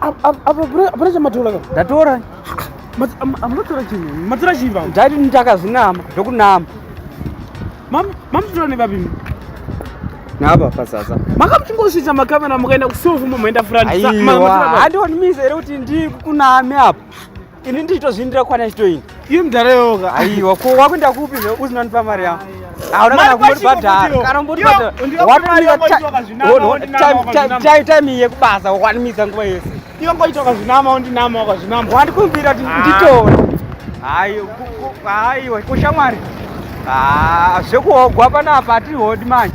apana chamatora ndatora amunotora chii matora chii vavo ndaiti nditakazvinama zvekunama mamutora nevapimi napa pasasa makamuchingosvitsa makamera mukaenda kusofu momaenda furandihandioni mise here kuti ndikuname apa ini ndichitozviindira kwana chitoini iye mudhara yoga aiwa ko wakuenda kupi zve usinonipa mari yangu hauna kana kumbotibhadhara kana umbotibhadharatim iye kubasa wakwanimidza nguva yese inongoita ukazvinama wondinama ukazvinama wandikumbira kuti ah. nditore aiwa kushamwari ah, zvekuhogwa panapa hatihodi manje